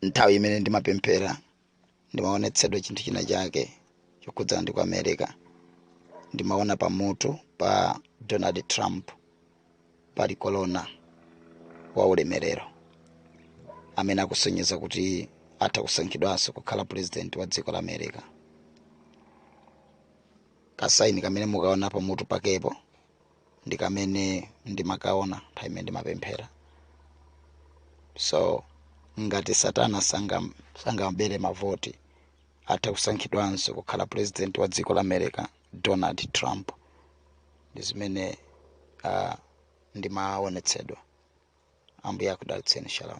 nthawi imene ndimapemphera ndimaonetsedwa chinthu china chake chokhudzana ndi ku america ndimaona pamutu pa donald trump pali kolona wa ulemerero amene akusonyeza kuti atha kusankhidwanso kukhala purezidenti wa dziko la america kasaini kamene mukaona pamutu pakepo ndi kamene ndimakaona nthawi imene ndimapemphera so ngati satana sangam- sangabere mavoti atha kusankhidwanso kukhala president wa dziko la america donald trump ndi zimene uh, ndimaonetsedwa ambuye akudalitseni shalom